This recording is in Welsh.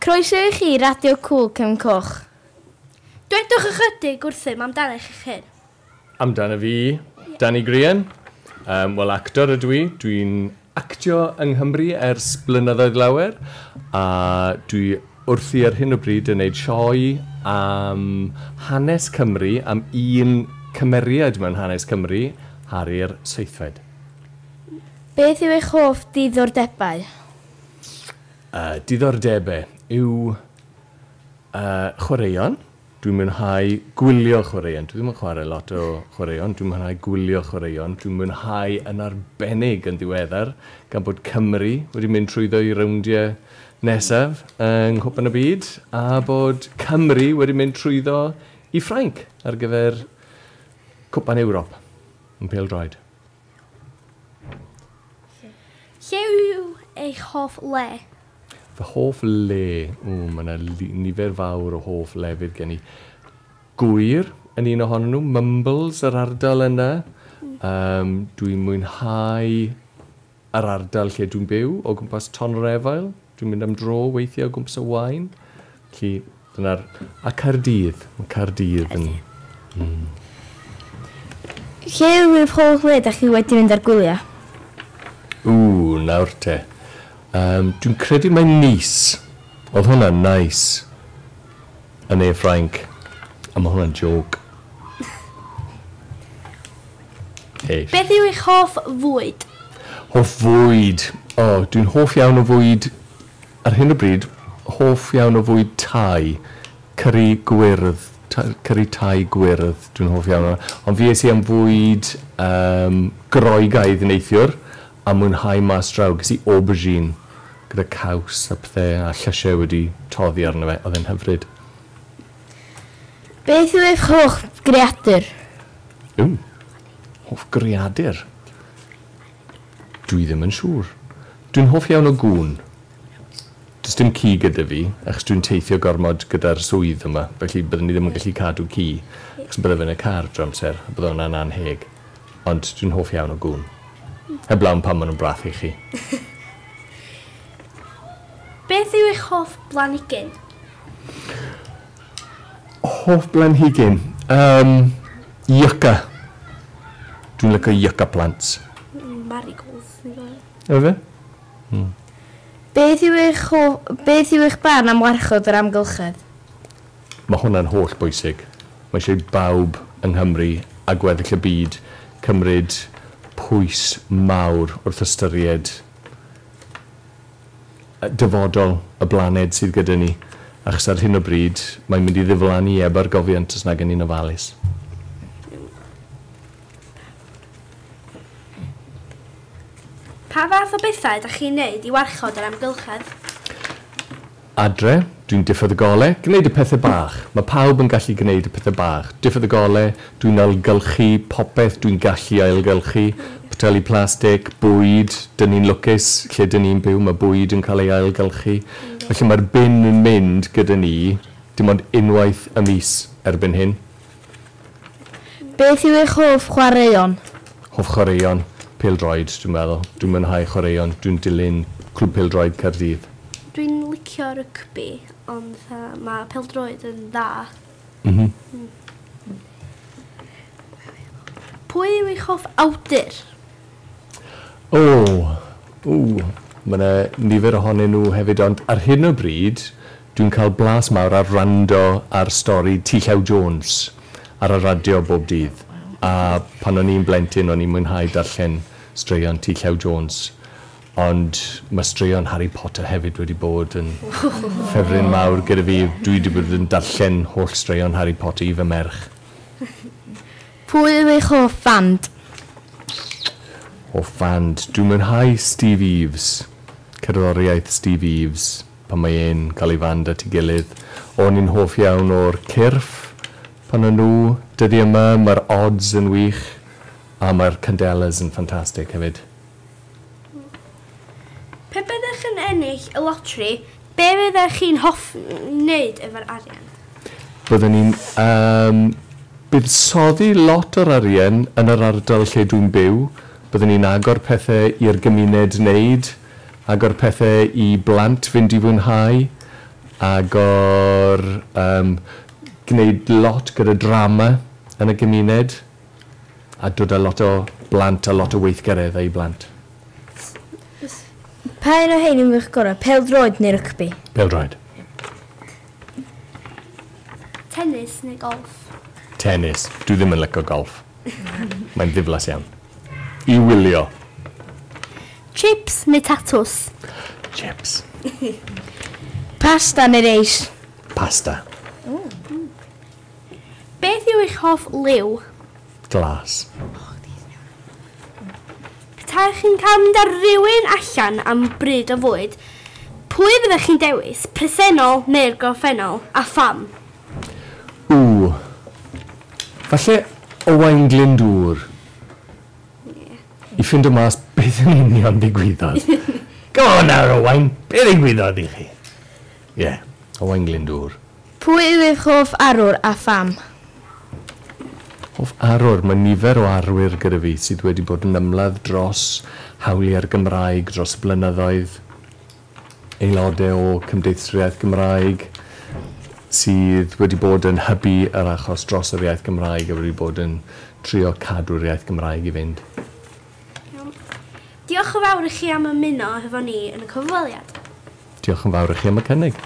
Croeso i chi i Radio Cŵl Cefn Coch. Dwedwch ychydig wrthym amdanech eich hun. Amdana fi, Danny Grian. Yym, wel, actor ydw i. Dwi'n actio yng Nghymru ers blynyddoedd lawer, a dwi wrthi ar hyn o bryd yn neud sioe am hanes Cymru, am un cymeriad mewn hanes Cymru, Harri'r Seithfed. Beth yw eich hoff ddiddordebau? Yy, diddordebe yw yy chwaraeon. Dwi'n mwynhau gwylio chwaraeon. Dwi ddim yn chwarae lot o chwaraeon. Dwi'n mwynhau gwylio chwaraeon. Dwi'n mwynhau yn arbennig yn ddiweddar gan bod Cymru wedi mynd trwyddo'i rowndiau nesaf yng Nghwpan y Byd a bod Cymru wedi mynd trwyddo i Ffrainc ar gyfer Cwpan Ewrop yn pêl-droed. Lle yw eich hoff le? Fy hoff le? Ww, mae yna nifer fawr o hoff lefydd gen i. Gŵyr yn un ohonyn nhw, Mumbles yr ardal yna. Yym, dwi'n mwynhau yr ardal lle dwi'n byw, o gwmpas Ton-yr-Efail. Dwi'n mynd am dro weithiau o gwmpas y Waun. Felly, dyna'r... A Caerdydd. Mae Caerdydd yn... Lle yw'r holl le dach chi wedi mynd ar gwyliau? Ww, nawr te. Yym, dwi'n credu mai Nice. Oedd hwnna'n neis. Yn ne Ffrainc. A mae hwnna'n jôc. Hyll. Beth yw eich hoff fwyd? Hoff fwyd? O, dwi'n hoff iawn o fwyd, ar hyn o bryd, hoff iawn o fwyd Thai. Cyri gwyrdd, ta- cyri Thai gwyrdd, dwi'n hoff iawn o. Ond fi es i am fwyd yym Groegaidd neithiwr, a mwynhau mas draw. Ges i aubergine gyda caws a pethe, a llysie wedi toddi arno fe, oedd e'n hyfryd. Beth yw eich hoff greadur? Ww. Hoff greadur? Dwi ddim yn siŵr. Dwi'n hoff iawn o gŵn. Does dim ci gyda fi, achos dwi'n teithio gormod gyda'r swydd yma, felly byddwn i ddim yn gallu cadw ci, achos bydde fe yn y car drwy'r amser, a bydde hwnna'n annheg. Ond dwi'n hoff iawn o gŵn. Heblaw am pam maen nhw'n brathu chi. Beth yw eich hoff blanhigyn? Hoff blanhigyn? Yym, yucca. Dwi'n lyco yucca plants. Marigolds dwi'n dda. Yw e? Hmm. Beth yw eich hoff... Beth yw eich barn am warchod yr amgylchedd? Mae hwnna'n holl bwysig. Mae eisiau i bawb yng Nghymru a gweddill y byd cymryd pwys mawr wrth ystyried dyfodol y blaned sydd gyda ni, achos ar hyn o bryd, mae'n mynd i ddiflannu heb argofiant os nag y'n ni'n ofalus. Pa fath o bethau ydych chi'n neud i warchod yr amgylchedd? Adre, dwi'n diffodd y gole, gneud y pethe bach. Mae pawb yn gallu gneud y pethe bach. Diffodd y gole, Dwi'n ailgylchu popeth dwi'n gallu ailgylchu. Poteli plastig, bwyd, dyn ni'n lwcus lle dyn ni'n byw, mae bwyd yn cael ei ailgylchu. Felly mae'r bin yn mynd gyda ni dim ond unwaith y mis erbyn hyn. Beth yw eich hoff chwaraeon? Hoff chwaraeon? Pêl-droed, dwi'n meddwl. Dwi'n mwynhau chwaraeon. Dwi'n dilyn Clwb Pêl-droed Caerdydd. Dwi'n licio rygbi, ond mae pêl-droed yn dda. M-hm. Pwy yw eich hoff awdur? O! Ww! Ma' 'na nifer ohonyn nhw hefyd ond ar hyn o bryd dwi'n cael blas mawr ar wrando ar stori Ti Llew Jones ar y radio bob dydd a pan o'n i'n blentyn o'n i'n mwynhau darllen straeon Ti Llew Jones Ond mae straeon Harry Potter hefyd wedi bod yn ffefryn mawr gyda fi. Dwi 'di bod yn darllen holl straeon Harry Potter i fy merch. Pwy yw eich hoff fand? Hoff fand? Dwi'n mwynhau Steve Eaves. Cerddoriaeth Steve Eaves pan mae e'n cael ei fand at ei gilydd. O'n i'n hoff iawn o'r cyrff pan o'n nhw. Dyddiau 'ma mae'r Odds yn wych a mae'r Candelas yn ffantastig hefyd. Pe byddech yn ennill y loteri, be fyddech chi'n hoffi wneud efo'r arian? Byddwn i'n yym buddsoddi lot o'r arian yn yr ardal lle dwi'n byw. Byddwn i'n agor pethe i'r gymuned wneud, agor pethe i blant fynd i fwynhau, agor yym gwneud lot gyda drama yn y gymuned. A dod â lot o blant a lot o weithgaredd â'u blant. Pa un o hein yn wych gorau, pêl-droed neu rygbi? Pêl-droed. Tennis neu golff? Tennis. Dwi ddim yn lyco golff. Mae'n ddiflas iawn. I wylio. Chips neu tatws? Chips. Pasta neu reis? Pasta. Beth yw eich hoff liw? Glas. Petaech chi'n cael mynd â rhywun allan am bryd o fwyd, pwy fyddech chi'n dewis, presennol neu'r gorffennol, a pham? Ww. Falle Owain Glyndŵr. I ffindo mas beth yn union ddigwyddodd. Go on nawr Owain, be ddigwyddodd i chi? Ie, Owain Glyndŵr. Pwy yw eich hoff arwr a pham? Hoff arwr? Mae nifer o arwyr gyda fi sydd wedi bod yn ymladd dros hawliau'r Gymraeg dros y blynyddoedd. Aelodau o Cymdeithaswriaeth Gymraeg sydd wedi bod yn hybu yr achos dros yr iaith Gymraeg a wedi bod yn trio cadw'r iaith Gymraeg i fynd. Iawn. Diolch yn fawr i chi am ymuno hefo ni yn y cyfweliad. Diolch yn fawr i chi am y cynnig.